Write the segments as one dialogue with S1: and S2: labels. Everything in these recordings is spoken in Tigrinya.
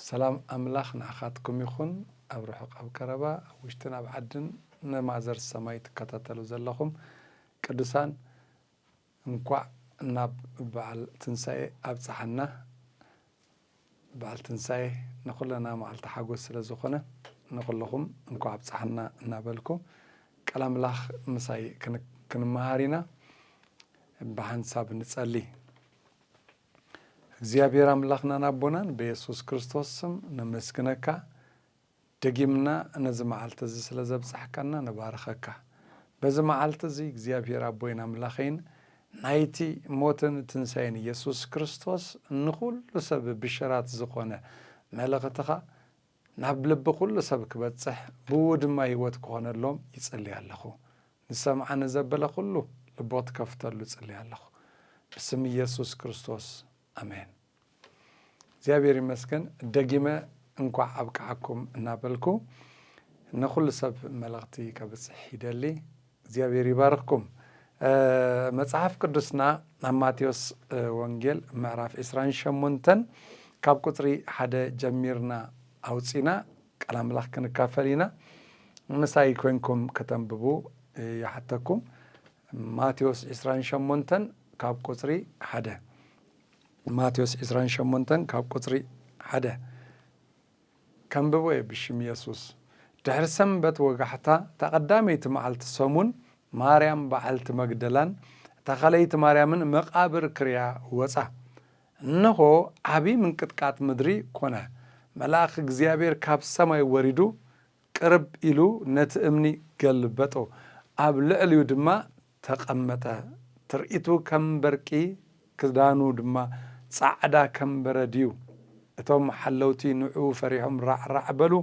S1: ሰላም ኣምላኽ ንኣኻትኩም ይኹን ኣብ ርሑቕ ኣብ ቀረባ ኣብ ውሽጥን ኣብ ዓድን ንማዘር ሰማይ ትከታተሉ ዘለኹም ቅዱሳን እንኳዕ ናብ በዓል ትንሳኤ ኣብጽሓና በዓል ትንሳኤ ንኹለና መዓልቲ ሓጎስ ስለ ዝኾነ ንኹልኹም እንኳዕ ኣብጽሓና እናበልኩ ቃል ኣምላኽ ምሳይ ክንመሃር ኢና ብሓንሳብ ንጸሊ እግዚኣብሔር ኣምላኽናን ኣቦናን በየሱስ ክርስቶስ ስም ነመስግነካ ደጊምና ነዚ መዓልቲ እዚ ስለ ዘብጻሕካና ንባርኸካ በዚ መዓልቲ እዚ እግዚኣብሔር ኣቦይን ኣምላኸይን ናይቲ ሞትን ትንሳኤን ኢየሱስ ክርስቶስ ንኹሉ ሰብ ብሽራት ዝኾነ መልእኽትኻ ናብ ልቢ ኩሉ ሰብ ክበጽሕ ብእኡ ድማ ህይወት ክኾነሎም ይጽሊ ኣለኹ። ንዝሰምዓ ንዘበለ ኩሉ ልቦት ከፍተሉ እጽሊ ኣለኹ። ብስም እየሱስ ክርስቶስ ኣሜን። እግዚኣብሔር ይመስገን ደጊመ እንኳዕ ኣብቅዓኩም እናበልኩ ንኹሉ ሰብ መልእኽቲ ከብጽሕ ይደሊ። እግዚኣብሔር ይባርኽኩም መጽሓፍ ቅዱስና ኣብ ማቴዎስ ወንጌል ምዕራፍ ዕስራን ሸሞንተን ካብ ቁጽሪ ሓደ ጀሚርና ኣውጺና ቃል ኣምላኽ ክንካፈል ኢና ምሳይ ኮንኩም ከተንብቡ ይሓተኩም ማቴዎስ ዕስራን ሸሞንተን ካብ ቁጽሪ ሓደ ማቴዎስ ዕስራን ሸሞንተን ካብ ቁጽሪ ሓደ ከንብቦ እየ ብሽም የሱስ። ድሕሪ ሰንበት ወጋሕታ እታ ቀዳመይቲ መዓልቲ ሰሙን ማርያም በዓልቲ መግደላን እታ ካልኣይቲ ማርያምን መቓብር ክርእያ ወጻ። እንሆ ዓቢ ምንቅጥቃጥ ምድሪ ኮነ። መልኣኽ እግዚኣብሔር ካብ ሰማይ ወሪዱ ቅርብ ኢሉ ነቲ እምኒ ገልበጦ፣ ኣብ ልዕሊኡ ድማ ተቐመጠ። ትርኢቱ ከም በርቂ፣ ክዳኑ ድማ ጻዕዳ ከም በረድ'ዩ። እቶም ሓለውቲ ንዕኡ ፈሪሖም ራዕራዕ በሉ፣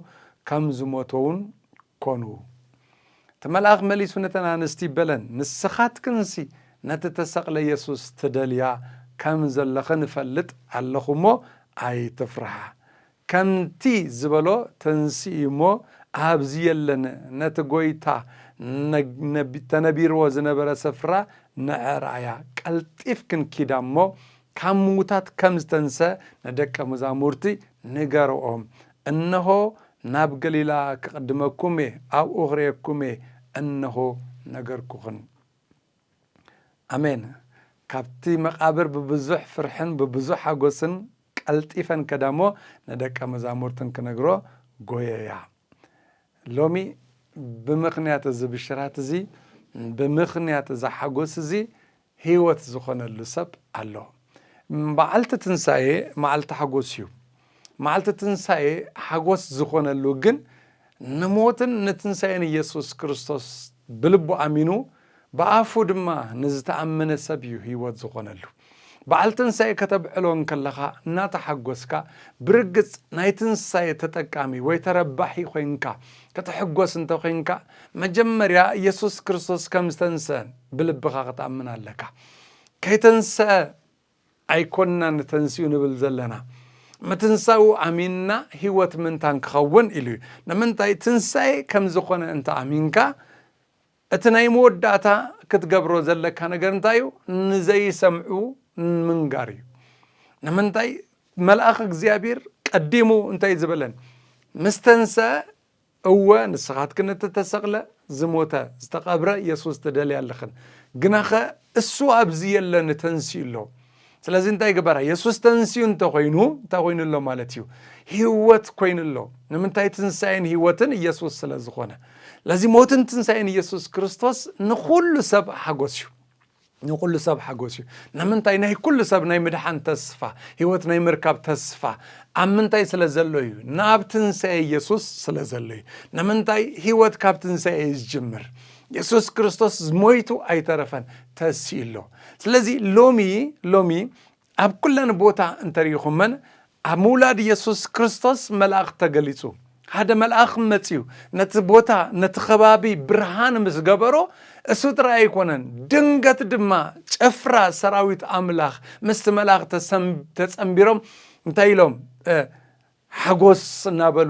S1: ከም ዝሞተ'ውን ኰኑ። እቲ መልኣኽ መሊሱ ነተን ኣንስቲ በለን፣ ንስኻትክንሲ ነቲ እተሰቕለ የሱስ ትደልያ ከም ዘለኽን እፈልጥ ኣለኹ እሞ፣ ኣይትፍርሓ። ከምቲ ዝበሎ ተንሥኢ እሞ ኣብዚ የለን ነቲ ጐይታ ተነቢርዎ ዝነበረ ስፍራ ንዕራያ ቀልጢፍ ክንኪድ እሞ ካብ ምዉታት ከም ዝተንሥ ንደቀ መዛሙርቲ ንገርኦም እንሆ ናብ ገሊላ ክቕድመኩም እየ ኣብኡ ክርእየኩም እየ እንሆ ነገርኩኽን ኣሜን ካብቲ መቓብር ብብዙሕ ፍርሕን ብብዙሕ ሓጐስን ቀልጢፈን ከዳ እሞ ንደቀ መዛሙርትን ክነግሮ ጎየያ። ሎሚ ብምኽንያት እዚ ብሽራት እዚ፣ ብምኽንያት እዚ ሓጎስ እዚ ህይወት ዝኾነሉ ሰብ ኣሎ። መዓልቲ ትንሳኤ መዓልቲ ሓጎስ እዩ። መዓልቲ ትንሳኤ ሓጎስ ዝኾነሉ ግን፣ ንሞትን ንትንሳኤን ኢየሱስ ክርስቶስ ብልቡ ኣሚኑ ብኣፉ ድማ ንዝተኣመነ ሰብ እዩ ሕይወት ዝኾነሉ። በዓል ትንሳኤ ከተብዕሎ እንከለኻ እናተሓጎስካ ብርግጽ ናይ ትንሳኤ ተጠቃሚ ወይ ተረባሒ ኮይንካ ክትሕጎስ እንተኮይንካ መጀመርያ ኢየሱስ ክርስቶስ ከምዝተንስአ ብልብኻ ክትኣምን ኣለካ። ከይተንስኣ ኣይኮንናን ተንሲኡ ንብል ዘለና ምትንሳኡ ኣሚንና ህይወት ምንታን ክኸውን ኢሉ እዩ ንምንታይ ትንሳኤ ከም ዝኾነ እንተ ኣሚንካ እቲ ናይ መወዳእታ ክትገብሮ ዘለካ ነገር እንታይ እዩ ንዘይሰምዑ ምንጋር እዩ ንምንታይ መልኣኽ እግዚኣብሔር ቀዲሙ እንታይ ዝበለን ምስተንሰ እወ ንስኻትክን እቲ እተሰቕለ፣ ዝሞተ፣ ዝተቐብረ የሱስ ትደልያ ኣለኽን። ግናኸ እሱ ኣብዚ የለን፣ ተንሲኡ ኣሎ። ስለዚ እንታይ ግበራ? የሱስ ተንሲኡ እንተኾይኑ እንታይ ኮይኑ ኣሎ ማለት እዩ? ህይወት ኮይኑ ኣሎ። ንምንታይ? ትንሳኤን ህይወትን ኢየሱስ ስለ ዝኾነ። ለዚ ሞትን ትንሳኤን ኢየሱስ ክርስቶስ ንኹሉ ሰብ ሓጎስ እዩ። ንኹሉ ሰብ ሓጎስ እዩ። ንምንታይ ናይ ኩሉ ሰብ ናይ ምድሓን ተስፋ፣ ህይወት ናይ ምርካብ ተስፋ ኣብ ምንታይ ስለ ዘሎ እዩ? ናብ ትንሣኤ ኢየሱስ ስለ ዘሎ እዩ። ንምንታይ ህይወት ካብ ትንሣኤ እዩ ዝጅምር። ኢየሱስ ክርስቶስ ሞይቱ ኣይተረፈን ተሲኡ ኣሎ። ስለዚ ሎሚ ሎሚ ኣብ ኩለን ቦታ እንተ ርኢኹመን ኣብ ምውላድ የሱስ ክርስቶስ መልኣኽ ተገሊጹ። ሓደ መልኣኽ መጺኡ ነቲ ቦታ ነቲ ከባቢ ብርሃን ምስ ገበሮ እሱ ጥራይ ኣይኮነን ድንገት ድማ ጭፍራ ሰራዊት ኣምላኽ ምስቲ መልኣኽ ተጸንቢሮም እንታይ ኢሎም ሓጎስ እናበሉ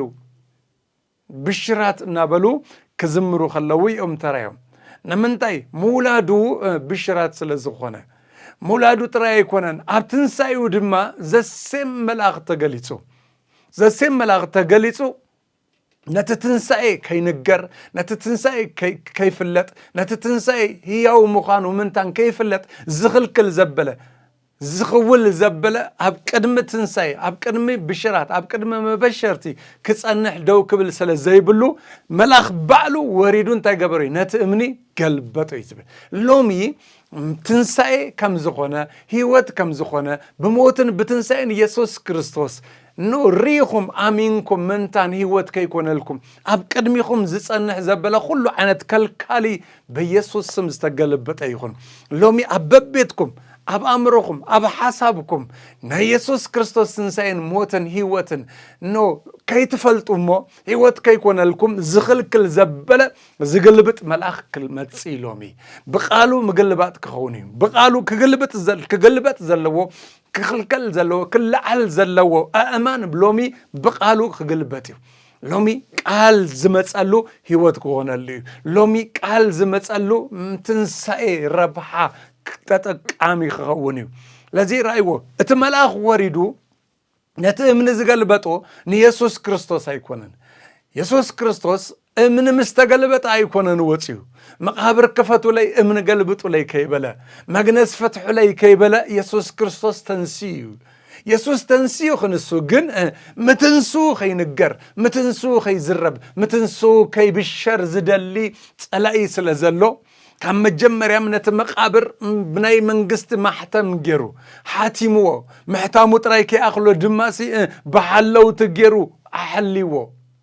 S1: ብሽራት እናበሉ ክዝምሩ ከለዉ እዮም ተራዮም። ንምንታይ? ምውላዱ ብሽራት ስለ ዝኾነ። ምውላዱ ጥራይ ኣይኮነን፣ ኣብ ትንሳኤኡ ድማ ዘሴም መልኣኽ ተገሊጹ። ዘሴም መልኣኽ ተገሊጹ ነቲ ትንሳኤ ከይንገር፣ ነቲ ትንሳኤ ከይፍለጥ፣ ነቲ ትንሳኤ ህያው ምዃኑ ምንታን ከይፍለጥ ዝኽልክል ዘበለ ዝኽውል ዘበለ ኣብ ቅድሚ ትንሳኤ፣ ኣብ ቅድሚ ብሽራት፣ ኣብ ቅድሚ መበሸርቲ ክጸንሕ ደው ክብል ስለ ዘይብሉ፣ መልኣኽ ባዕሉ ወሪዱ እንታይ ገበሮ እዩ? ነቲ እምኒ ገልበጦ እዩ ዝብል። ሎሚ ትንሳኤ ከም ዝኾነ፣ ህይወት ከም ዝኾነ፣ ብሞትን ብትንሳኤን የሱስ ክርስቶስ ን ርኢኹም ኣሚንኩም ምንታን ህይወት ከይኮነልኩም ኣብ ቅድሚኹም ዝጸንሕ ዘበለ ኩሉ ዓይነት ከልካሊ በየሱስ ስም ዝተገለበጠ ይኹን ሎሚ ኣብ በቤትኩም ኣብ ኣእምሮኹም ኣብ ሓሳብኩም ናይ የሱስ ክርስቶስ ትንሳኤን ሞትን ህይወትን ኖ ከይትፈልጡ እሞ ህይወት ከይኮነልኩም ዝኽልክል ዘበለ ዝግልብጥ መልኣኽ ክመጽእ ሎሚ ብቃሉ ምግልባጥ ክኸውን እዩ ብቃሉ ክግልበጥ ዘለዎ ክኽልከል ዘለዎ ክለዓል ዘለዎ ኣእማን ሎሚ ብቃሉ ክግልበጥ እዩ ሎሚ ቃል ዝመጸሉ ህይወት ክኾነሉ እዩ። ሎሚ ቃል ዝመጸሉ ትንሳኤ ረብሓ ተጠቃሚ ክኸውን እዩ። ለዚ ራእይዎ እቲ መልኣኽ ወሪዱ ነቲ እምኒ ዝገልበጦ ንየሱስ ክርስቶስ ኣይኮነን። የሱስ ክርስቶስ እምኒ ምስ ተገልበጠ ኣይኮነን ወፅዩ መቃብር ክፈቱለይ እምኒ ገልብጡለይ ከይበለ መግነዝ ፈትሑለይ ከይበለ የሱስ ክርስቶስ ተንስዩ የሱስ ተንሲኡ ክንሱ ግን ምትንስኡ ከይንገር ምትንስኡ ከይዝረብ ምትንስኡ ከይብሸር ዝደሊ ጸላኢ ስለ ዘሎ ካብ መጀመርያም ነቲ መቃብር ብናይ መንግስቲ ማሕተም ገይሩ ሓቲምዎ ምሕታሙ ጥራይ ከይኣኽሎ ድማሲ ብሓለውቲ ገይሩ ኣሐልይዎ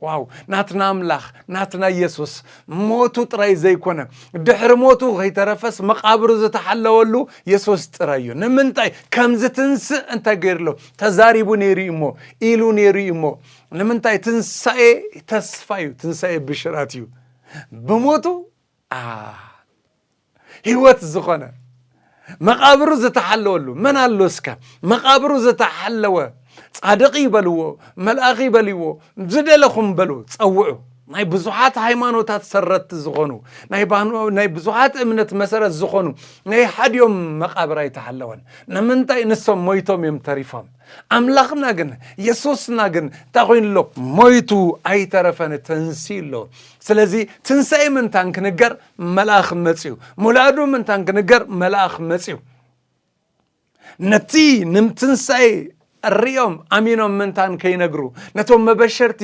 S1: ዋው ናትና ኣምላኽ ናትና ኢየሱስ ሞቱ ጥራይ ዘይኮነ ድሕሪ ሞቱ ከይተረፈስ መቓብሩ ዝተሓለወሉ የሱስ ጥራይ እዩ ንምንታይ ከም ዝትንስእ እንታይ ገይርሎ ተዛሪቡ ነይሩ እዩ እሞ ኢሉ ነይሩ እዩ እሞ ንምንታይ ትንሳኤ ተስፋ እዩ ትንሳኤ ብሽራት እዩ ብሞቱ ህይወት ዝኾነ መቓብሩ ዝተሓለወሉ መን ኣሎ እስከ መቓብሩ ዝተሓለወ ጻድቕ ይበልዎ መልኣኽ ይበልዎ ዝደለኹም በሉ ጸውዑ ናይ ብዙሓት ሃይማኖታት ሰረትቲ ዝኾኑ ናይ ብዙሓት እምነት መሰረት ዝኾኑ ናይ ሓዲኦም መቃብር ኣይተሓለወን ንምንታይ ንሶም ሞይቶም እዮም ተሪፎም ኣምላኽና ግን የሱስና ግን እንታይ ኮይኑ ኣሎ ሞይቱ ኣይተረፈን ተንስኡ ኣሎ ስለዚ ትንሳኤ ምንታን ክንገር መልኣኽ መጺኡ ሙላዱ ምንታን ክንገር መልኣኽ መጺኡ ነቲ ንምትንሳኤ ሪኦም ኣሚኖም ምንታን ከይነግሩ ነቶም መበሸርቲ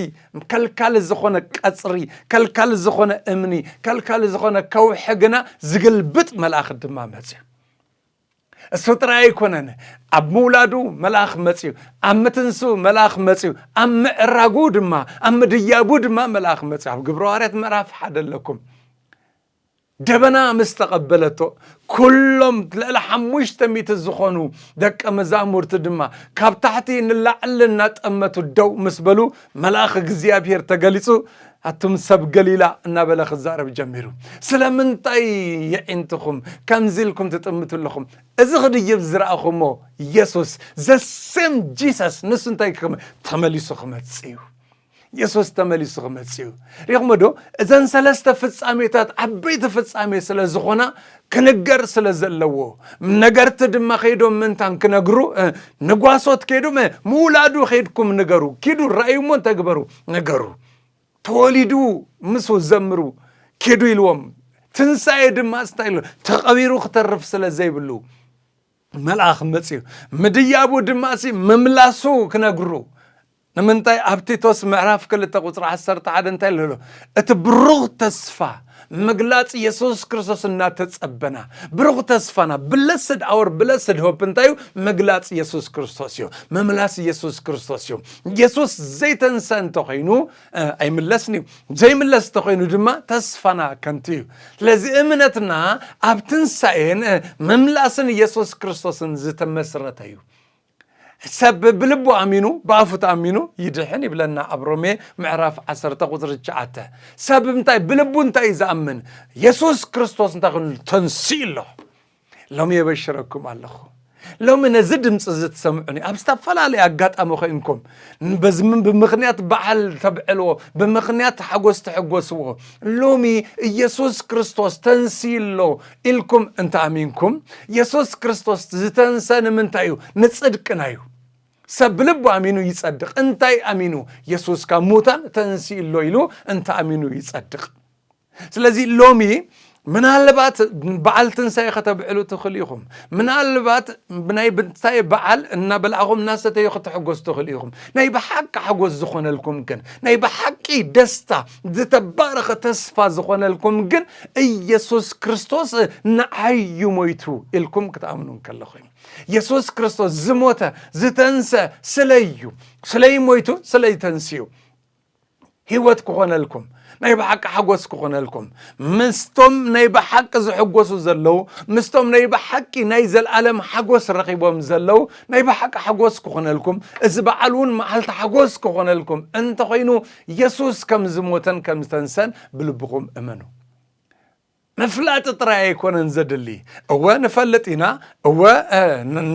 S1: ከልካሊ ዝኾነ ቀጽሪ ከልካሊ ዝኾነ እምኒ ከልካሊ ዝኾነ ከውሒ ግና ዝግልብጥ መልኣኽ ድማ መጺኡ እሱ ጥራይ ኣይኮነን፣ ኣብ ምውላዱ መልኣኽ መጺኡ፣ ኣብ ምትንስኡ መልኣኽ መጺኡ፣ ኣብ ምዕራጉ ድማ ኣብ ምድያቡ ድማ መልኣኽ መጺኡ። ኣብ ግብረ ሃዋርያት ምዕራፍ ሓደ ኣለኩም። ደበና ምስ ተቐበለቶ ኩሎም ልዕሊ ሓሙሽተ ሚእቲ ዝኾኑ ደቀ መዛሙርቲ ድማ ካብ ታሕቲ ንላዕሊ እናጠመቱ ደው ምስ በሉ መልኣኽ እግዚኣብሔር ተገሊጹ ኣቱም ሰብ ገሊላ እናበለ ክዛረብ ጀሚሩ። ስለምንታይ የዒንትኹም ከምዚ ኢልኩም ትጥምቱ ኣለኹም? እዚ ክድይብ ዝረኣኹሞ የሱስ the same Jesus ንሱ እንታይ ክም ተመሊሱ ክመጽእ እዩ። የሱስ ተመሊሱ ክመጽእ እዩ። ሪእኹሞ ዶ? እዘን ሰለስተ ፍጻሜታት ዓበይቲ ፍጻሜ ስለ ዝኾና ክንገር ስለ ዘለዎ ነገርቲ ድማ ከይዶም ምንታን ክነግሩ ንጓሶት ከይዱ ምውላዱ ከይድኩም ንገሩ ኪዱ ራእዩ እሞ ተግበሩ ነገሩ ተወሊዱ ምስ ዘምሩ ኪዱ ኢልዎም ትንሣኤ ድማ ስታይ ኢሉ ተቐቢሩ ክተርፍ ስለ ዘይብሉ መልኣኽ መፅዩ ምድያቡ ድማ ሲ ምምላሱ ክነግሩ ንምንታይ ኣብ ቲቶስ ምዕራፍ ክልተ ቁጽሪ ዓሰርተ ሓደ እንታይ ኣሎ ኣሎ? እቲ ብሩኽ ተስፋ ምግላጽ የሱስ ክርስቶስ እናተጸበና ብሩኽ ተስፋና ብለስድ ኣወር ብለስድ ሆፕ እንታይ እዩ? ምግላጽ የሱስ ክርስቶስ እዩ። ምምላስ የሱስ ክርስቶስ እዩ። የሱስ ዘይተንስአ እንተኾይኑ እ፣ ኣይምለስን እዩ። ዘይምለስ እንተኾይኑ ድማ ተስፋና ከንቱ እዩ። ስለዚ እምነትና ኣብ ትንሳኤን እ፣ ምምላስን የሱስ ክርስቶስን ዝተመስረተ እዩ። ሰብ ብልቡ ኣሚኑ ብኣፉ ተኣሚኑ ይድሕን ይብለና ኣብ ሮሜ ምዕራፍ 1 ቁፅሪ 9 ሰብ እንታይ ብልቡ እንታይ እዩ ዝኣምን የሱስ ክርስቶስ እንታይ ኮይኑ ተንስኡ ኣሎ ሎሚ የበሽረኩም ኣለኹ ሎሚ ነዚ ድምፂ እዚ ትሰምዑኒ ኣብ ዝተፈላለዩ ኣጋጣሚ ኮይንኩም በዚ ብምኽንያት በዓል ተብዕልዎ፣ ብምኽንያት ሓጎስ ተሐጎስዎ። ሎሚ ኢየሱስ ክርስቶስ ተንስዩ ኣሎ ኢልኩም እንተ ኣሚንኩም፣ ኢየሱስ ክርስቶስ ዝተንሰ ንምንታይ እዩ? ንጽድቅና እዩ። ሰብ ብልቡ ኣሚኑ ይጸድቕ። እንታይ ኣሚኑ? ኢየሱስ ካብ ሙታን ተንስዩ ኣሎ ኢሉ እንተ ኣሚኑ ይጸድቕ። ስለዚ ሎሚ ምናልባት በዓል ትንሳኤ ከተብዕሉ ትኽእሉ ኢኹም። ምናልባት ናይ ብንሳኤ በዓል እናበላዕኹም እናሰተዩ ክትሕጎሱ ትኽእሉ ኢኹም። ናይ ብሓቂ ሓጎስ ዝኾነልኩም ግን ናይ ብሓቂ ደስታ ዝተባረኸ ተስፋ ዝኾነልኩም ግን ኢየሱስ ክርስቶስ ንዓዩ ሞይቱ ኢልኩም ክትኣምኑ እንከለኹ እዩ። ኢየሱስ ክርስቶስ ዝሞተ ዝተንሰ ስለዩ ስለይ ሞይቱ ስለይ ተንስዩ ህይወት ክኾነልኩም ናይ ብሓቂ ሓጎስ ክኾነልኩም ምስቶም ናይ ብሓቂ ዝሕጎሱ ዘለዉ ምስቶም ናይ ብሓቂ ናይ ዘለኣለም ሓጎስ ረኺቦም ዘለዉ ናይ ብሓቂ ሓጎስ ክኾነልኩም እዚ በዓል እውን መዓልቲ ሓጎስ ክኾነልኩም እንተኾይኑ የሱስ ከም ዝሞተን ከም ዝተንሰን ብልብኹም እመኑ ምፍላጥ ጥራይ ኣይኮነን ዘድሊ እወ ንፈልጥ ኢና እወ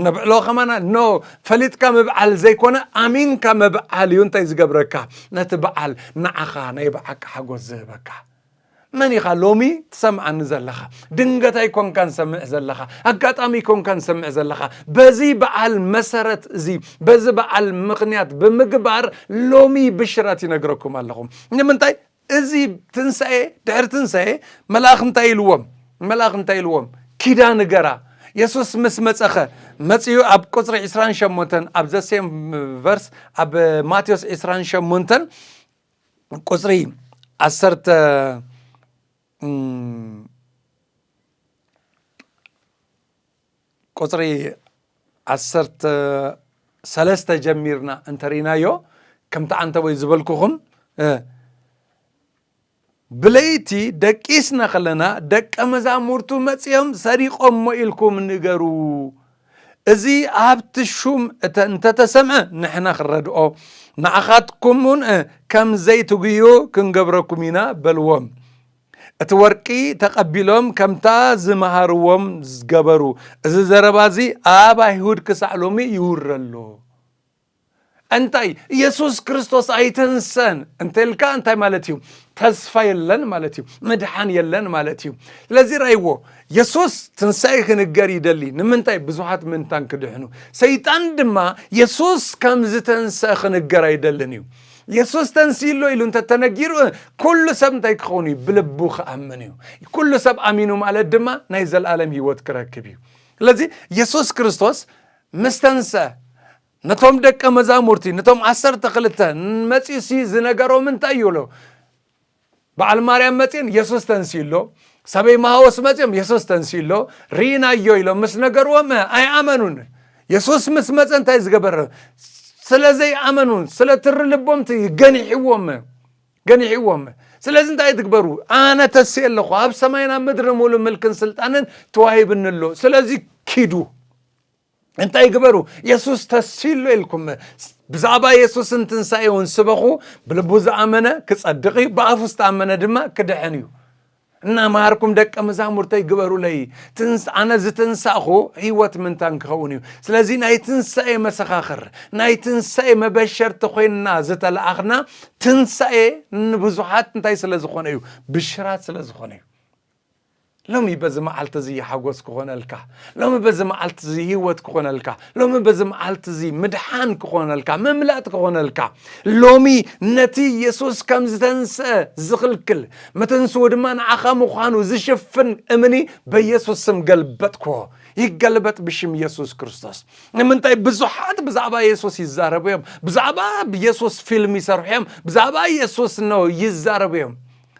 S1: ነብዕሎ ከማና ኖ ፈሊጥካ ምብዓል ዘይኮነ ኣሚንካ ምብዓል እዩ እንታይ ዝገብረካ ነቲ በዓል ንዓኻ ናይ ብዓቂ ሓጎስ ዝህበካ መን ኢኻ ሎሚ ትሰምዓኒ ዘለኻ ድንገት ኣይኮንካን ሰምዕ ዘለኻ ኣጋጣሚ ኣይኮንካን ሰምዕ ዘለኻ በዚ በዓል መሰረት እዚ በዚ በዓል ምኽንያት ብምግባር ሎሚ ብሽራት ይነግረኩም ኣለኹም ንምንታይ እዚ ትንሳኤ ድሕሪ ትንሳኤ መልኣኽ እንታይ ኢልዎም መልኣኽ እንታይ ኢልዎም ኪዳ ንገራ የሱስ ምስ መጸኸ መጺኡ ኣብ ቁጽሪ 28 ኣብ ዘሴም ቨርስ ኣብ ማቴዎስ 28 ቁጽሪ ዓሰርተ ቁፅሪ ዓሰርተ ሰለስተ ጀሚርና እንተሪእናዮ ከምቲ ዓንተቦይ ዝበልኩኹም ብለይቲ ደቂስና ከለና ደቀ መዛሙርቱ መጺኦም ሰሪቖሞ ኢልኩም ንገሩ እዚ ኣብቲ ሹም እንተተሰምዐ ንሕና ክንረድኦ ንዓኻትኩም እውን ከም ዘይትጉዩ ክንገብረኩም ኢና በልዎም እቲ ወርቂ ተቐቢሎም ከምታ ዝመሃርዎም ገበሩ። እዚ ዘረባ እዚ ኣብ ኣይሁድ ክሳዕ ሎሚ ይውረ ኣሎ። እንታይ ኢየሱስ ክርስቶስ ኣይተንሰን እንተልካ እንታይ ማለት እዩ? ተስፋ የለን ማለት እዩ። ምድሓን የለን ማለት እዩ። ስለዚ ራይዎ የሱስ ትንሳኤ ክንገር ይደሊ። ንምንታይ ብዙሓት ምንታን ክድሕኑ። ሰይጣን ድማ የሱስ ከም ዝተንሰ ክንገር ኣይደልን እዩ። የሱስ ተንስኡ ኣሎ ኢሉ እንተ ተነጊሩ ኩሉ ሰብ እንታይ ክኸውን እዩ? ብልቡ ክኣምን እዩ። ኩሉ ሰብ ኣሚኑ ማለት ድማ ናይ ዘለኣለም ህይወት ክረክብ እዩ። ስለዚ የሱስ ክርስቶስ ምስ ተንስአ ነቶም ደቀ መዛሙርቲ ነቶም ዓሰርተ ክልተ መጺኡሲ ዝነገሮም እንታይ እዩ? በዓል ማርያም መጺን የሱስ ተንስኡ ኣሎ ሰበይ መሃወስ መጺኦም የሱስ ተንስኡ ኣሎ ርኢናዮ ኢሎም ምስ ነገርዎም ኣይኣመኑን የሱስ ምስ መጸ እንታይ ዝገበረ ስለ ዘይኣመኑ ስለ ትሪ ልቦም ገኒሕዎም ገኒሕዎም ስለዚ እንታይ ትግበሩ ኣነ ተስእ ኣለኹ ኣብ ሰማይና ምድሪ ሙሉ ምልክን ስልጣንን ተዋሂብኒ ኣሎ ስለዚ ኪዱ እንታይ ግበሩ? የሱስ ተሲሎ ኢልኩም ብዛዕባ የሱስን ትንሳኤውን ስበኹ። ብልቡ ዝኣመነ ክጸድቕ እዩ፣ ብኣፉ ዝተኣመነ ድማ ክድሕን እዩ። እናመሃርኩም ደቀ መዛሙርተይ ግበሩለይ። ኣነ ዝተንሳእኹ ህይወት ምንታን ክኸውን እዩ። ስለዚ ናይ ትንሳኤ መሰኻኽር፣ ናይ ትንሳኤ መበሸርቲ ኮይንና ዝተለኣኽና ትንሳኤ ንብዙሓት እንታይ ስለ ዝኾነ እዩ? ብሽራት ስለ ዝኾነ እዩ። ሎሚ በዚ መዓልቲ እዚ ሓጎስ ክኾነልካ፣ ሎሚ በዚ መዓልቲ እዚ ህይወት ክኾነልካ፣ ሎሚ በዚ መዓልቲ እዚ ምድሓን ክኾነልካ፣ ምምላጥ ክኾነልካ፣ ሎሚ ነቲ የሱስ ከም ዝተንስአ ዝኽልክል መተንስኡ ድማ ንዓኻ ምዃኑ ዝሽፍን እምኒ በየሱስ ስም ገልበጥክዎ። ይገልበጥ ብሽም የሱስ ክርስቶስ። ንምንታይ ብዙሓት ብዛዕባ የሱስ ይዛረቡ እዮም፣ ብዛዕባ የሱስ ፊልም ይሰርሑ እዮም፣ ብዛዕባ የሱስ ነው ይዛረቡ እዮም።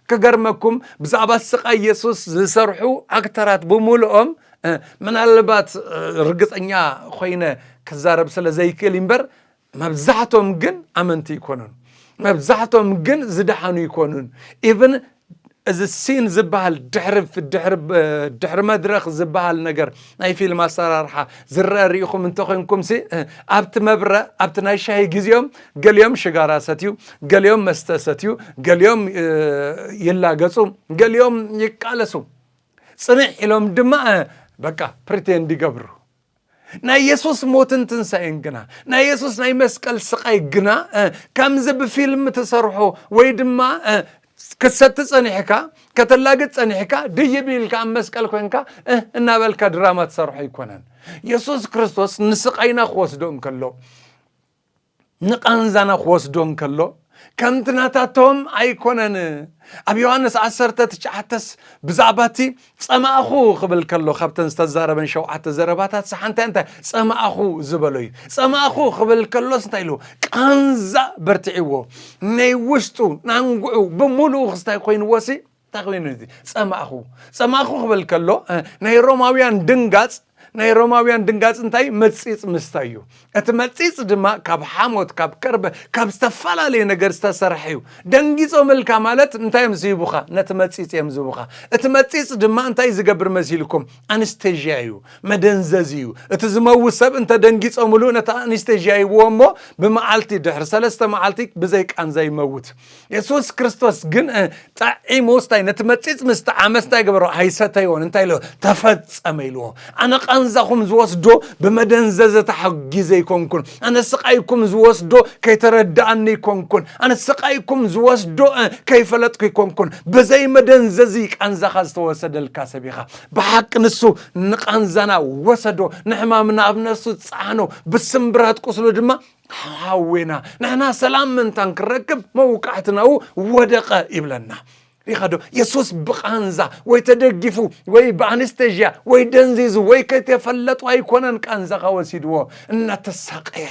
S1: ክገርመኩም ብዛዕባ ስቃይ የሱስ ዝሰርሑ ኣክተራት ብምልኦም ምናልባት ርግጸኛ ኮይነ ክዛረብ ስለ ዘይክእል እምበር መብዛሕቶም ግን ኣመንቲ ይኮኑን መብዛሕቶም ግን ዝደሓኑ ይኮኑን ኢብን እዚ ሲን ዝበሃል ድሕሪ ድሕሪ መድረኽ ዝበሃል ነገር ናይ ፊልም ኣሰራርሓ ዝረአ ርኢኹም እንተኮይንኩም ሲ ኣብቲ መብረ ኣብቲ ናይ ሻሂ ግዜኦም ገሊኦም ሽጋራ ሰትዩ፣ ገሊኦም መስተ ሰትዩ፣ ገሊኦም ይላገጹ፣ ገሊኦም ይቃለሱ፣ ጽንዕ ኢሎም ድማ በቃ ፕሪቴንድ ይገብሩ። ናይ የሱስ ሞትን ትንሳኤን ግና ናይ የሱስ ናይ መስቀል ስቓይ ግና ከምዚ ብፊልም ትሰርሖ ወይ ድማ ክትሰቲ ጸኒሕካ ከተላግጥ ጸኒሕካ ድይብ ኢልካ ኣብ መስቀል ኮንካ እናበልካ ድራማ ትሰርሖ ኣይኮነን። የሱስ ክርስቶስ ንስቓይና ክወስዶ እንከሎ ንቓንዛና ክወስዶ እንከሎ ከምቲ ናታቶም ኣይኰነን። ኣብ ዮሃንስ ዓሰርተ ትሽዓተስ ብዛዕባ እቲ ጸማእኩ ክብል ከሎ ካብተን ዝተዛረበን ሸውዓተ ዘረባታትስ ሓንቲ እንታይ ጸማእኩ ዝበሎ እዩ። ጸማእኩ ክብል ከሎስ እንታይ ኢሉ? ቃንዛ በርቲዕዎ ናይ ውሽጡ ናንግዑ ብምሉኡ ክስታይ ኰይንዎሲ እንታይ ኮይኑ እዚ ጸማእኹ ጸማእኹ ክብል ከሎ ናይ ሮማውያን ድንጋጽ ናይ ሮማውያን ድንጋጽ እንታይ መጺጽ ምስታይ እዩ እቲ መጺጽ ድማ ካብ ሓሞት ካብ ከርበ ካብ ዝተፈላለየ ነገር ዝተሰርሐ እዩ ደንጊጾም እልካ ማለት እንታይ እዮም ዝህቡኻ ነቲ መጺጽ እዮም ዝህቡኻ እቲ መጺጽ ድማ እንታይ ዝገብር መሲልኩም ኣንስቴዥያ እዩ መደንዘዝ እዩ እቲ ዝመውት ሰብ እንተ ደንጊጾምሉ ነቲ ኣንስቴዥያ ይብዎ እሞ ብመዓልቲ ድሕሪ ሰለስተ መዓልቲ ብዘይ ቃንዛ ይመውት የሱስ ክርስቶስ ግን ጠዒሙ ስታይ ነቲ መጺጽ ምስ ጠዓመ ስታይ ገበሮ ኣይሰተይዎን እንታይ ኢለ ተፈጸመ ኢልዎ ኣነ ቃንዛኹም ዝወስዶ ብመደንዘዘ ተሓጊዘ ይኮንኩን ኣነ ስቃይኩም ዝወስዶ ከይተረዳኣኒ ይኮንኩን ኣነ ስቃይኩም ዝወስዶ ከይፈለጥኩ ይኮንኩን ብዘይ መደንዘዚ ቃንዛኻ ዝተወሰደልካ ሰብ ኢኻ ብሓቂ ንሱ ንቃንዛና ወሰዶ ንሕማምና ኣብ ነፍሱ ጻዕኖ ብስምብራት ቁስሉ ድማ ሓዌና ንሕና ሰላም ምንታን ክረክብ መውቃዕትናኡ ወደቐ ይብለና ሪኻዶ የሱስ ብቃንዛ ወይ ተደጊፉ ወይ ብኣንስተዥያ ወይ ደንዚዙ ወይ ከይተፈለጡ ኣይኮነን ቃንዛኻ ወሲድዎ እናተሳቀየ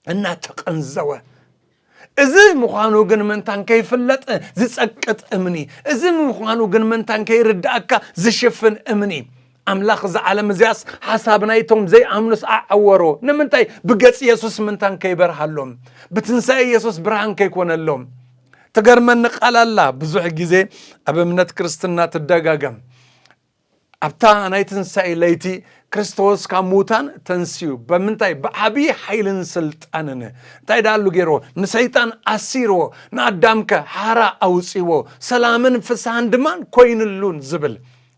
S1: እናተቀንዘወ እዚ ምዃኑ ግን ምንታን ከይፍለጥ ዝጸቅጥ እምኒ፣ እዚ ምዃኑ ግን ምንታን ከይርድኣካ ዝሽፍን እምኒ፣ ኣምላኽ እዛ ዓለም እዚኣስ ሓሳብ ናይቶም ዘይኣምኑስ ኣዐወሮ፣ ንምንታይ ብገጽ የሱስ ምንታን ከይበርሃሎም፣ ብትንሳኤ የሱስ ብርሃን ከይኮነሎም። ትገርመኒ ቃል ኣላ ብዙሕ ግዜ ኣብ እምነት ክርስትና ትደጋገም። ኣብታ ናይ ትንሣኤ ለይቲ ክርስቶስ ካብ ምዉታን ተንስዩ በምንታይ ብዓብዪ ሓይልን ስልጣንን እንታይ ዳኣሉ ገይርዎ ንሰይጣን ኣሲርዎ ንኣዳምከ ሓራ ኣውፅዎ ሰላምን ፍስሃን ድማን ኮይንሉን ዝብል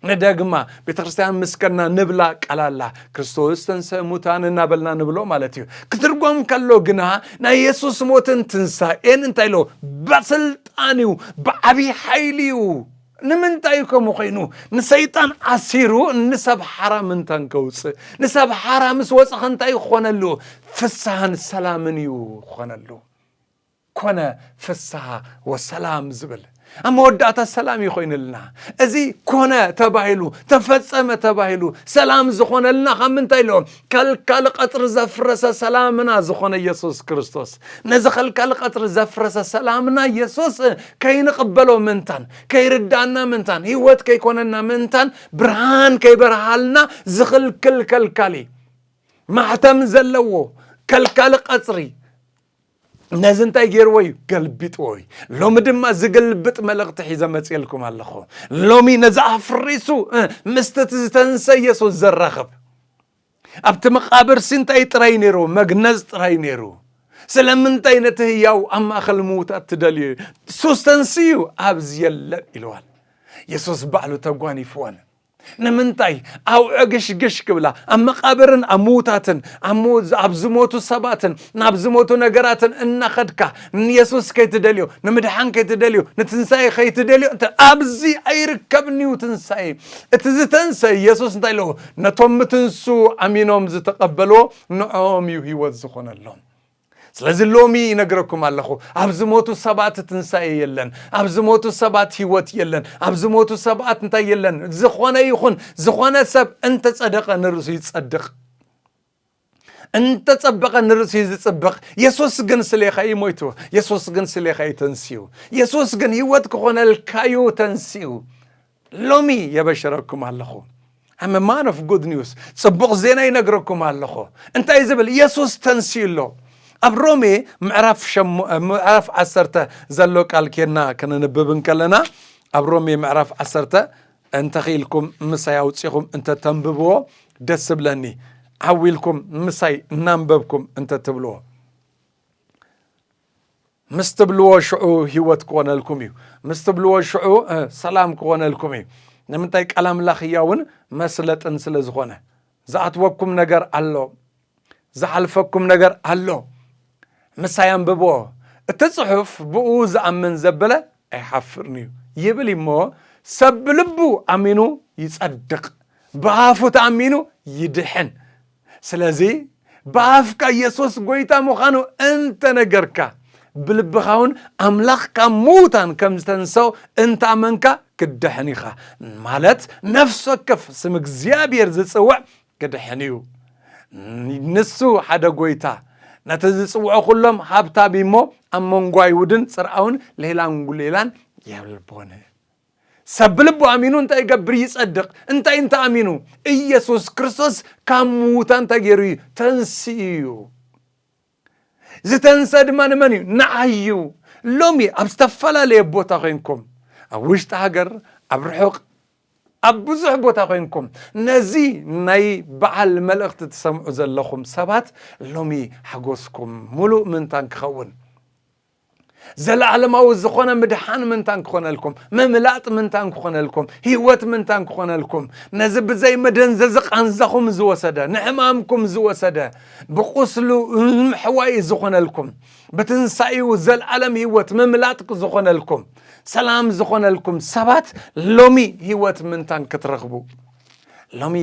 S1: ንደግማ ቤተ ክርስትያን ምስከና ንብላ ቃላላ ክርስቶስ ተንሰ ሙታን እናበልና ንብሎ ማለት እዩ ክትርጎም ከሎ ግና ናይ የሱስ ሞትን ትንሣኤን እንታይ ኣለዎ በስልጣን እዩ ብዓብዪ ሓይሊ እዩ ንምንታይ እዩ ከምኡ ኮይኑ ንሰይጣን ኣሲሩ ንሰብ ሓራ ምንታን ከውፅእ ንሰብ ሓራ ምስ ወፅኸ እንታይ ክኾነሉ ፍስሃን ሰላምን እዩ ክኾነሉ ኮነ ፍስሃ ወሰላም ዝብል ኣብ መወዳእታ ሰላም እዩ ኮይንልና እዚ ኮነ ተባሂሉ ተፈፀመ ተባሂሉ ሰላም ዝኾነልና ካብ ምንታይ ኣሎ ከልካሊ ቐጽሪ ዘፍረሰ ሰላምና ዝኾነ ኢየሱስ ክርስቶስ ነዚ ከልካሊ ቐጽሪ ዘፍረሰ ሰላምና ኢየሱስ ከይንቕበሎ ምንታን ከይርዳና ምንታን ሕይወት ከይኮነና ምንታን ብርሃን ከይበርሃልና ዝኽልክል ከልካሊ ማሕተም ዘለዎ ከልካሊ ቐጽሪ ነዚ እንታይ ገይርዎ እዩ ገልቢጥዎ እዩ ሎሚ ድማ ዝግልብጥ መልእኽቲ ሒዘ መፅልኩም ኣለኹ ሎሚ ነዚ ኣፍሪሱ እ፣ ምስቲ እቲ ዝተንሰ ኢየሱስ ዘራኽብ ኣብቲ መቃብር ሲ እንታይ ጥራይ ነይሩ መግነዝ ጥራይ ነይሩ ስለምንታይ ነቲ ህያው ኣብ ማእኸል ምዉታት ትደልዩ ሱስ ተንስዩ ኣብዚ የለን ኢልዋን የሱስ ባዕሉ ተጓኒፍዎን ንምንታይ ኣውዕግሽግሽ ክብላ ኣብ መቓብርን ኣብ ምዉታትን ኣብ ዝሞቱ ሰባትን ናብ ዝሞቱ ነገራትን እናኸድካ ንየሱስ ከይትደልዮ ንምድሓን ከይትደልዮ ንትንሳኤ ከይትደልዮ ኣብዚ ኣይርከብን እዩ ትንሳኤ እቲ ዝተንሰ የሱስ እንታይ ኣለዎ ነቶም ምትንሱ ኣሚኖም ዝተቐበልዎ ንዕኦም እዩ ህይወት ዝኾነሎም ስለዚ ሎሚ ይነግረኩም ኣለኹ፣ ኣብ ዝሞቱ ሰባት ትንሳኤ የለን፣ ኣብ ዝሞቱ ሰባት ህይወት የለን፣ ኣብ ዝሞቱ ሰባት እንታይ የለን። ዝኾነ ይኹን ዝኾነ ሰብ እንተጸደቐ ንርእሱ ይጸድቕ፣ እንተጸበቐ ንርእሱ እዩ ዝጽብቕ። የሱስ ግን ስሌኻ እዩ ሞይቱ፣ የሱስ ግን ስሌኻ እዩ ተንስኡ፣ የሱስ ግን ህይወት ክኾነልካ እዩ ተንስኡ። ሎሚ የበሽረኩም ኣለኹ ኣመ ማን ኦፍ ጉድ ኒውስ ጽቡቕ ዜና ይነግረኩም ኣለኹ እንታይ ዝብል የሱስ ተንስኡ ኣሎ ኣብ ሮሜ ምዕራፍ ዓሰርተ ዘሎ ቃል ኬና ክንንብብ እንከለና ኣብ ሮሜ ምዕራፍ ዓሰርተ እንተኽኢልኩም ምሳይ ኣውፂኹም እንተተንብብዎ ደስ ብለኒ ዓዊልኩም ምሳይ እናንበብኩም እንተትብልዎ ምስ ትብልዎ ሽዑ ህይወት ክኾነልኩም እዩ ምስ ትብልዎ ሽዑ ሰላም ክኾነልኩም እዩ ንምንታይ ቃል ኣምላኽ ህያውን መስለጥን ስለ ዝኾነ ዝኣትወኩም ነገር ኣሎ ዝሓልፈኩም ነገር ኣሎ ምሳይ ኣንብብዎ እቲ ጽሑፍ ብኡ ዝኣምን ዘበለ ኣይሓፍርን እዩ ይብል እሞ ሰብ ብልቡ ኣሚኑ ይጸድቕ ብኣፉ ተኣሚኑ ይድሕን ስለዚ ብኣፍካ የሱስ ጐይታ ምዃኑ እንተ ነገርካ፣ ብልብኻውን ኣምላኽ ካብ ምዉታን ከም ዝተንስኦ እንተ ኣመንካ ክትድሕን ኢኻ። ማለት ነፍሲ ወከፍ ስም እግዚኣብሄር ዝጽውዕ ክድሕን እዩ። ንሱ ሓደ ጐይታ፣ ነቲ ዝጽውዖ ኩሎም ሃብታም እዩሞ ኣብ መንጎ ኣይሁድን ጽርኣውን ሌላን ጒሌላን የልቦን። ሰብ ብልቡ ኣሚኑ እንታይ ይገብር? ይጸድቕ። እንታይ እንተ ኣሚኑ? ኢየሱስ ክርስቶስ ካብ ምዉታን እንታይ ገይሩ እዩ? ተንስኡ እዩ። ዝተንሰ ድማ ንመን እዩ? ንዓይ እዩ። ሎሚ ኣብ ዝተፈላለየ ቦታ ኮይንኩም ኣብ ውሽጢ ሃገር ኣብ ርሑቕ ኣብ ብዙሕ ቦታ ኮይንኩም ነዚ ናይ በዓል መልእኽቲ ትሰምዑ ዘለኹም ሰባት ሎሚ ሓጎስኩም ምሉእ ምንታን ክኸውን ዘለኣለማዊ ዝኾነ ምድሓን ምንታን ክኾነልኩም፣ ምምላጥ ምንታን ክኾነልኩም፣ ህይወት ምንታን ክኾነልኩም፣ ነዚ ብዘይ መደንዘዚ ቃንዛኹም ዝወሰደ፣ ንሕማምኩም ዝወሰደ፣ ብቑስሉ ንምሕዋይ ዝኾነልኩም፣ ብትንሳኤኡ ዘለኣለም ህይወት ምምላጥ ዝኾነልኩም፣ ሰላም ዝኾነልኩም ሰባት ሎሚ ህይወት ምንታን ክትረኽቡ ሎሚ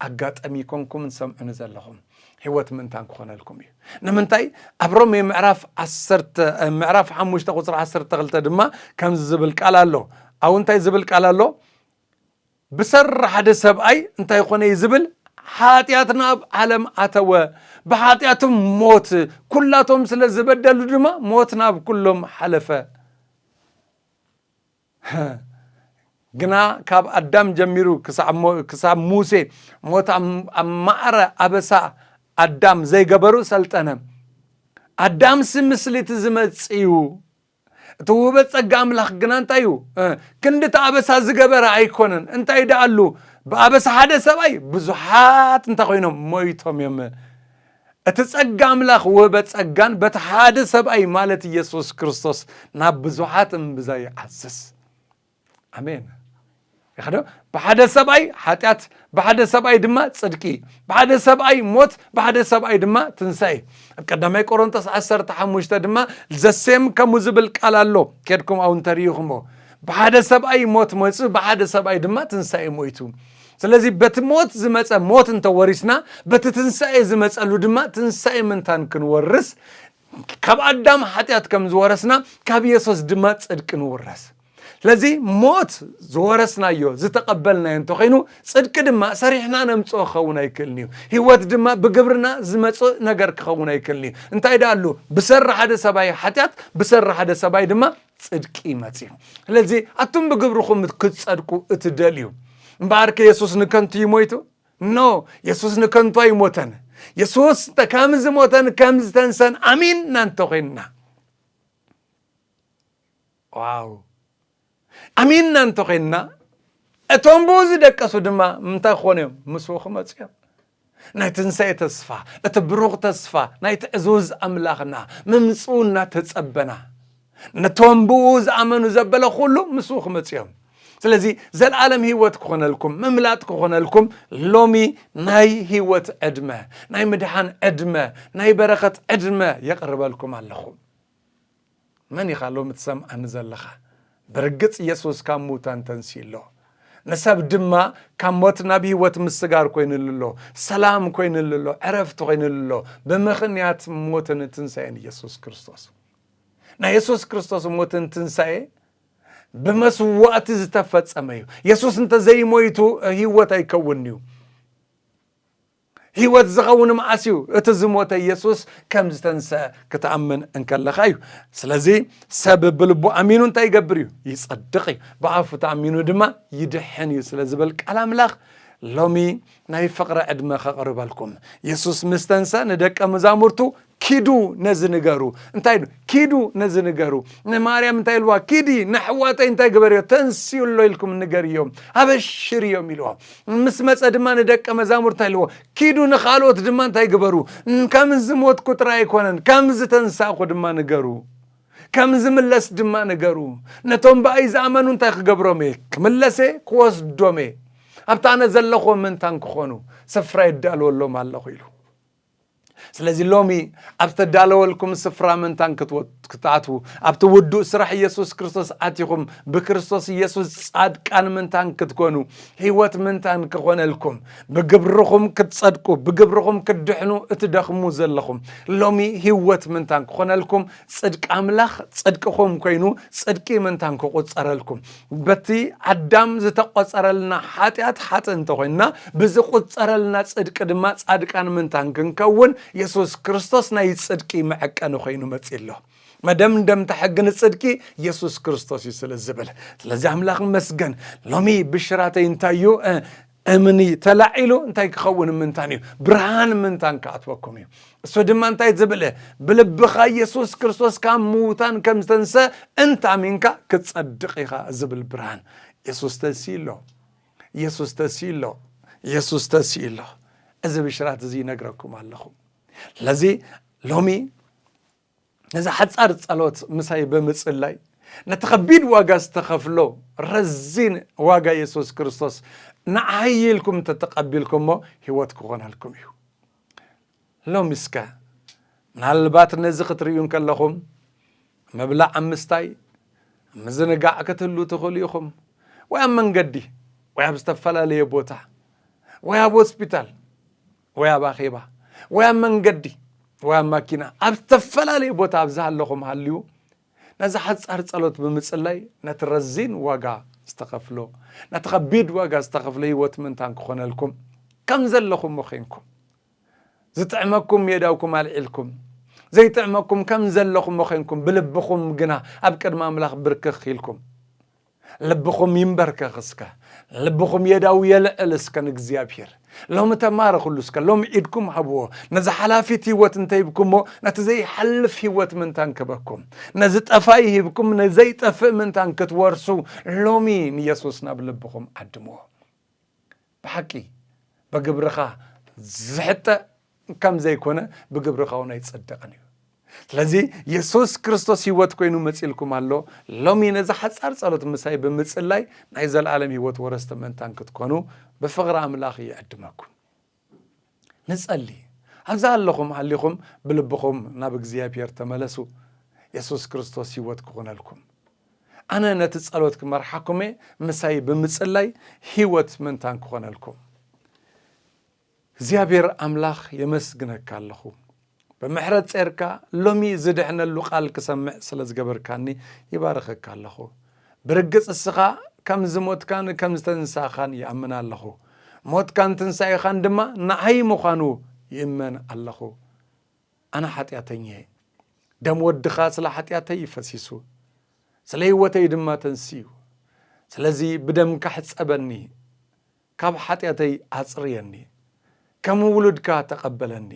S1: ኣጋጠሚ ኮንኩም ንሰምዑኒ ዘለኹም ህይወት ምእንታን ክኾነልኩም እዩ ንምንታይ ኣብ ሮሜ ምዕራፍ ዓሰርተ ምዕራፍ ሓሙሽተ ቁፅሪ ዓሰርተ ክልተ ድማ ከምዚ ዝብል ቃል ኣሎ ኣብ እንታይ ዝብል ቃል ኣሎ ብሰሪ ሓደ ሰብኣይ እንታይ ኮነ እዩ ዝብል ሓጢኣት ናብ ዓለም ኣተወ ብሓጢኣቶም ሞት ኩላቶም ስለ ዝበደሉ ድማ ሞት ናብ ኩሎም ሓለፈ ግና ካብ ኣዳም ጀሚሩ ክሳብ ሙሴ ሞት ኣብ ማዕረ ኣበሳ ኣዳም ዘይገበሩ ሰልጠነ ኣዳምሲ ምስሊ እቲ ዝመጽእ እዩ እቲ ውህበት ጸጋ ኣምላኽ ግና እንታይ እዩ ክንዲ እቲ ኣበሳ ዝገበረ ኣይኮነን እንታይ ደኣሉ ብኣበሳ ሓደ ሰብኣይ ብዙሓት እንታይ ኮይኖም ሞይቶም እዮም እቲ ጸጋ ኣምላኽ ወህበ ጸጋን በቲ ሓደ ሰብኣይ ማለት ኢየሱስ ክርስቶስ ናብ ብዙሓት እምብዛ ይዓዝዝ። ኣሜን። ይኸዶ ብሓደ ሰብኣይ ሓጢኣት፣ ብሓደ ሰብኣይ ድማ ጽድቂ፣ ብሓደ ሰብኣይ ሞት፣ ብሓደ ሰብኣይ ድማ ትንሣኤ። ኣብ ቀዳማይ ቆሮንቶስ ዓሰርተ ሓሙሽተ ድማ ዘሴም ከምኡ ዝብል ቃል ኣሎ። ኬድኩም ኣው እንተርኢኹሞ ብሓደ ሰብኣይ ሞት መጹ፣ ብሓደ ሰብኣይ ድማ ትንሣኤ ሞይቱ። ስለዚ በቲ ሞት ዝመጸ ሞት እንተ ወሪስና በቲ ትንሳኤ ዝመጸሉ ድማ ትንሳኤ ምንታን ክንወርስ ካብ ኣዳም ሓጢኣት ከም ዝወረስና ካብ የሱስ ድማ ጽድቂ ንውረስ ስለዚ ሞት ዝወረስናዮ ዝተቐበልናዮ እንተኾይኑ ጽድቂ ድማ ሰሪሕና ነምጽኦ ክኸውን ኣይክእልን እዩ ህይወት ድማ ብግብርና ዝመጽእ ነገር ክኸውን ኣይክእልን እዩ እንታይ ደኣሉ ብሰሪ ሓደ ሰብኣይ ሓጢኣት ብሰሪ ሓደ ሰብኣይ ድማ ጽድቂ መጺኡ። ስለዚ ኣቱም ብግብርኹም ክትጸድቁ እትደልዩ እምበኣር ከ የሱስ ንከንቱ እዩ ሞይቱ? ኖ የሱስ ንከንቱ ኣይሞተን። የሱስ ከም ዝሞተን ከም ዝተንሰን ኣሚንና እንተኾይንና ዋው ኣሚንና እንተኾይንና እቶም ብኡ ዝደቀሱ ድማ ምንታይ ክኾኑ እዮም? ምስኡ ክመፁ እዮም። ናይ ትንሳኤ ተስፋ፣ እቲ ብሩኽ ተስፋ ናይቲ ዕዙዝ ኣምላኽና ምምጽኡ እናተጸበና፣ ነቶም ብእኡ ዝኣመኑ ዘበለ ዅሉ ምስኡ ኽመጹ እዮም። ስለዚ ዘለኣለም ህይወት ክኾነልኩም ምምላጥ ክኾነልኩም ሎሚ ናይ ህይወት ዕድመ ናይ ምድሓን ዕድመ ናይ በረኸት ዕድመ የቕርበልኩም ኣለኹ። መን ኢኻ ሎሚ ትሰምዓኒ ዘለኻ? ብርግጽ የሱስ ካብ ምዉታን ተንሲኡ ኣሎ፣ ንሰብ ድማ ካብ ሞት ናብ ህይወት ምስጋር ኰይንሉ ኣሎ፣ ሰላም ኰይንሉ ኣሎ፣ ዕረፍቲ ዀይንሉ ኣሎ፣ ብምኽንያት ሞትን ትንሳኤን የሱስ ክርስቶስ። ናይ የሱስ ክርስቶስ ሞትን ትንሳኤ ብመስዋእቲ ዝተፈጸመ እዩ። የሱስ እንተ ዘይሞይቱ ህይወት ኣይከውንን'ዩ። ህይወት ዝኸውን መዓስ እዩ? እቲ ዝሞተ ኢየሱስ ከም ዝተንሰ ክትኣምን እንከለኻ እዩ። ስለዚ ሰብ ብልቡ ኣሚኑ እንታይ ይገብር እዩ? ይጸድቕ እዩ። ብኣፉ ተኣሚኑ ድማ ይድሕን እዩ ስለ ዝብል ቃል ኣምላኽ ሎሚ ናይ ፍቕሪ ዕድመ ከቕርበልኩም። ኢየሱስ ምስ ተንሰ ንደቀ መዛሙርቱ ኪዱ ነዚ ንገሩ እንታይ ዶ ኪዱ ነዚ ንገሩ ንማርያም እንታይ ኢልዋ ኪዲ ንኣሕዋተይ እንታይ ግበርዮ ተንስኡ ኣሎ ኢልኩም ንገርዮ ኣበሽርዮም ኢልዎ ምስ መፀ ድማ ንደቀ መዛሙር እንታይ ኢልዎ ኪዱ ንካልኦት ድማ እንታይ ግበሩ ከም ዝሞትኩ ጥራይ ኣይኮነን ከም ዝተንሳእኩ ድማ ንገሩ ከም ዝምለስ ድማ ንገሩ ነቶም ብኣይ ዝኣመኑ እንታይ ክገብሮም እየ ክምለሰ ክወስዶም እየ ኣብቲ ኣነ ዘለኹዎ ምንታን ክኾኑ ስፍራ የዳልወሎም ኣለኹ ኢሉ ስለዚ ሎሚ ኣብ ዝተዳለወልኩም ስፍራ ምንታን ክትኣትዉ ኣብቲ ውዱእ ስራሕ ኢየሱስ ክርስቶስ ኣቲኹም ብክርስቶስ ኢየሱስ ጻድቃን ምንታን ክትኮኑ ህይወት ምንታን ክኾነልኩም ብግብርኹም ክትጸድቁ ብግብርኹም ክትድሕኑ እትደኽሙ ዘለኹም ሎሚ ህይወት ምንታን ክኾነልኩም ጽድቂ ኣምላኽ ጽድቅኹም ኮይኑ ጽድቂ ምንታን ክቑጸረልኩም በቲ ኣዳም ዝተቆጸረልና ሓጢኣት ሓጥእ እንተኾይንና ብዝቁጸረልና ጽድቂ ድማ ጻድቃን ምንታን ክንከውን የሱስ ክርስቶስ ናይ ጽድቂ መዐቀኒ ኮይኑ መጺ ኣሎ። መደምደምታ ሕጊ ንጽድቂ የሱስ ክርስቶስ እዩ ስለ ዝብል ስለዚ ኣምላኽ መስገን ሎሚ ብሽራተይ እንታይ እዩ እምኒ ተላዒሉ እንታይ ክኸውን ምንታን እዩ ብርሃን ምንታን ክኣትወኩም እዩ እሱ ድማ እንታይ ዝብለ ብልብኻ ኢየሱስ ክርስቶስ ካብ ምዉታን ከም ዝተንሰ እንታሚንካ ክጸድቕ ኢኻ ዝብል ብርሃን የሱስ ተንስኡ ኣሎ የሱስ ተንስኡ ኣሎ የሱስ ተንስኡ ኣሎ እዚ ብሽራት እዚ ይነግረኩም ኣለኹ ለዚ ሎሚ ነዛ ሓጻር ጸሎት ምሳይ ብምጽላይ ነቲ ከቢድ ዋጋ ዝተኸፍሎ ረዚን ዋጋ የሱስ ክርስቶስ ንዓይ ኢልኩም እንተተቐቢልኩሞ ህይወት ክኾነልኩም እዩ ሎሚ እስከ ምናልባት ነዚ ክትርእዩ እንከለኹም ምብላዕ ኣብ ምስታይ ምዝንጋዕ ክትህሉ ትኽእሉ ኢኹም ወይ ኣብ መንገዲ ወይ ኣብ ዝተፈላለየ ቦታ ወይ ኣብ ሆስፒታል ወይ ኣብ ኣኼባ ወይ ኣብ መንገዲ ወይ ኣብ ማኪና ኣብ ዝተፈላለየ ቦታ ኣብ ዝሃለኹም ሃልዩ ነዚ ሓጻር ጸሎት ብምጽላይ ነቲ ረዚን ዋጋ ዝተኸፍሎ ነቲ ከቢድ ዋጋ ዝተኸፍሎ ህይወት ምንታን ክኾነልኩም ከም ዘለኹም ዄንኩም ዝጥዕመኩም የዳውኩም ኣልዒልኩም ዘይጥዕመኩም ከም ዘለኹም ዄንኩም ብልብኹም ግና ኣብ ቅድሚ ኣምላኽ ብርክኽ ኢልኩም ልብኹም ይንበርከኽ እስከ፣ ልብኹም የዳው የልዕል እስከ ንእግዚኣብሄር። ሎሚ ተማረኽሉ እስከ፣ ሎሚ ኢድኩም ሃብዎ። ነዛ ሓላፊት ህይወት እንተ ሂብኩሞ፣ ነቲ ዘይሓልፍ ህይወት ምንታን ክህበኩም? ነዚ ጠፋኢ ሂብኩም፣ ንዘይጠፍእ ምንታን ክትወርሱ? ሎሚ ንየሱስ ናብ ልብኹም ዓድምዎ። ብሓቂ በግብርኻ ዝሕጠ ከም ዘይኮነ ብግብርኻ እውን ኣይጸደቐን እዩ ስለዚ የሱስ ክርስቶስ ህይወት ኮይኑ መጺልኩም ኣሎ ሎሚ ነዚ ሓጻር ጸሎት ምሳይ ብምጽላይ ናይ ዘለኣለም ህይወት ወረስቲ ምእንታን ክትኮኑ ብፍቕሪ ኣምላኽ ይዕድመኩም ንጸሊ። ኣብዛ ኣለኹም ሃሊኹም ብልብኹም ናብ እግዚኣብሔር ተመለሱ የሱስ ክርስቶስ ሕይወት ክኹነልኩም። ኣነ ነቲ ጸሎት ክመርሓኩም እየ ምሳይ ብምጽላይ ሕይወት ምንታን ክኾነልኩም እግዚኣብሔር ኣምላኽ የመስግነካ ኣለኹ። ብምሕረት ጼርካ ሎሚ ዝድሕነሉ ቃል ክሰምዕ ስለ ዝገበርካኒ ይባርኸካ ኣለኹ። ብርግጽ እስኻ ከም ዝሞትካን ከም ዝተንሳእኻን ይኣምን ኣለኹ። ሞትካን ትንሳኤኻን ድማ ንዓይ ምዃኑ ይእመን ኣለኹ። ኣነ ሓጢኣተኛ እየ። ደም ወድኻ ስለ ሓጢኣተይ ይፈሲሱ ስለ ህይወተይ ድማ ተንስዩ። ስለዚ ብደምካ ሕጸበኒ። ካብ ሓጢኣተይ ኣጽርየኒ ከም ውሉድካ ተቐበለኒ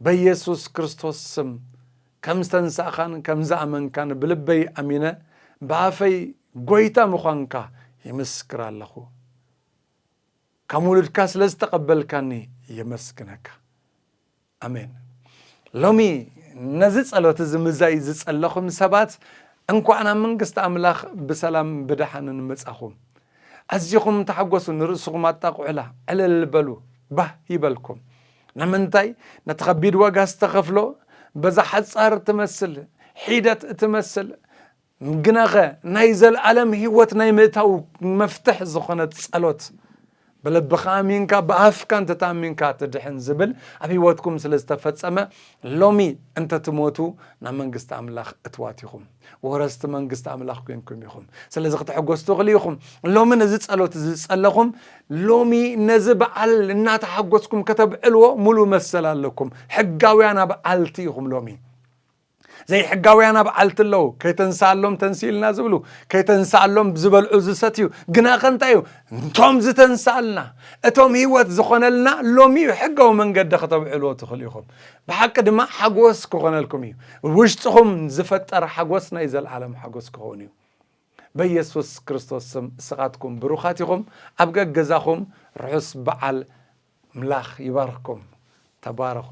S1: በየሱስ ክርስቶስ ስም ከም ዝተንሳእካን ከም ዝኣመንካን ብልበይ ኣሚነ ብኣፈይ ጎይታ ምዃንካ ይምስክር ኣለኹ ከም ውሉድካ ስለ ዝተቐበልካኒ የመስግነካ። ኣሜን ሎሚ ነዚ ጸሎት እዚ ምዛይ ዝጸለኹም ሰባት እንኳዕ ናብ መንግስቲ ኣምላኽ ብሰላም ብደሓንን መጻኹም። ኣዚኹም ተሓጎሱ፣ ንርእስኹም ኣጣቕዑላ፣ ዕልል በሉ፣ ባህ ይበልኩም። ንምንታይ ነቲ ከቢድ ዋጋ ዝተኸፍሎ በዛ ሓጻር ትመስል ሒደት እትመስል ግናኸ ናይ ዘለኣለም ህይወት ናይ ምእታው መፍትሕ ዝኾነት ጸሎት ብልብኻ ኣሚንካ ብኣፍካ እንተተኣሚንካ ትድሕን ዝብል ኣብ ህይወትኩም ስለ ዝተፈጸመ ሎሚ እንተትሞቱ ናብ መንግስቲ ኣምላኽ እትዋት ኢኹም ወረስቲ መንግስቲ ኣምላኽ ኮንኩም ኢኹም ስለዚ ክተሐጎስ ትኽእሉ ኢኹም ሎሚ ነዚ ጸሎት እዚ ዝጸለኹም ሎሚ ነዚ በዓል እናተሓጎስኩም ከተብዕልዎ ሙሉ መሰል ኣለኩም ሕጋውያን ኣብዓልቲ ኢኹም ሎሚ ዘይሕጋውያን ኣብ ዓልቲ ኣለዉ ከይተንስኣሎም ተንስእልና ዝብሉ ከይተንስኣሎም ዝበልዑ ዝሰትዩ ግናኸ እንታይ እዩ እንቶም ዝተንስኣልና እቶም ህይወት ዝኾነልና ሎሚ እዩ ሕጋዊ መንገዲ ከተብዕልዎ ትኽእሉ ኢኹም ብሓቂ ድማ ሓጎስ ክኾነልኩም እዩ ውሽጥኹም ዝፈጠር ሓጎስ ናይ ዘለዓለም ሓጎስ ክኸውን እዩ በየሱስ ክርስቶስ ስም እስኻትኩም ብሩኻት ኢኹም ኣብ ገገዛኹም ርሑስ በዓል ምላኽ ይባርኽኩም ተባረኹ